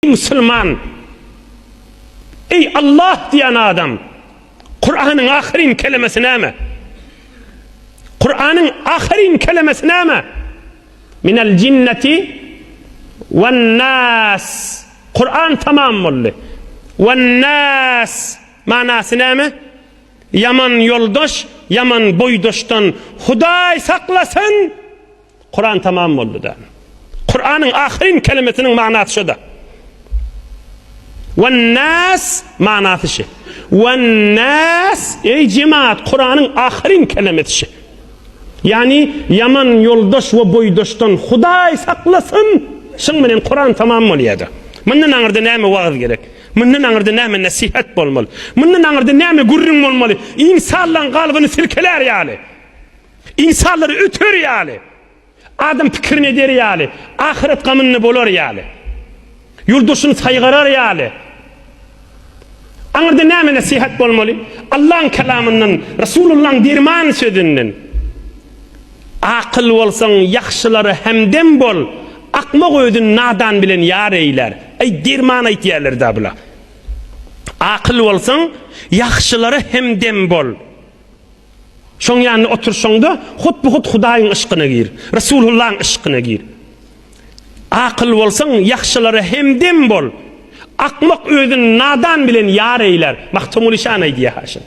Eý musulman! Eý Allah diýen adam! Kuranyň ahyryn kelemesi näme? Kuranyň ahyryn kelemesi näme? Minel jinneti wen nas. Kuran tamam boldy. Wen nas manasy näme? Ýaman ýoldaş, ýaman boýdaşdan Hudaý saklasyn! Kuran tamam boldy-da. Kuranyň ahyryn kelimesiniň manasy şo-da. Wan-nas manasy şi. Wan-nas, eý jemaat, Kuranyň ahyryn kelimesi şi. Ýagny, ýaman ýoldaş we boýdaşdan Hudaý saklasyn! Şuň bilen Kuran tamam bolýar-da. Mundan aňyrda näme wagyz gerek? Mundan aňyrda näme nesihat bolmaly? Mundan aňyrda näme gürrüň bolmaly? Ynsanlaryň kalbyny silkelär ýaly. Ynsanlar öter ýaly, Adam pikirini eder ýaly, Ahyret gamynda bolar ýaly, Ýoldaşyny saýgarar ýaly, Aňyrda näme nesihat bolmaly? Allaň kelamyndan, Resulullaň derman sözünden, Akyl bolsaň ýagşylara hemdem bol, Akmak özün nadan bilen ýar eýlär. Eý derman aýtýarlar-da bula. Akyl bolsaň ýagşylara hemdem bol. Şoň ýanynda oturşyňda, hut-bu-hut Hudaýyň yşkyna gir, Resulullahyň yşkyna gir. Akyl bolsaň, ýagşylara hemdem bol. Akmak özüni nadan bilen ýar eýlär. Magtymguly şany aýdýar-ha şuny.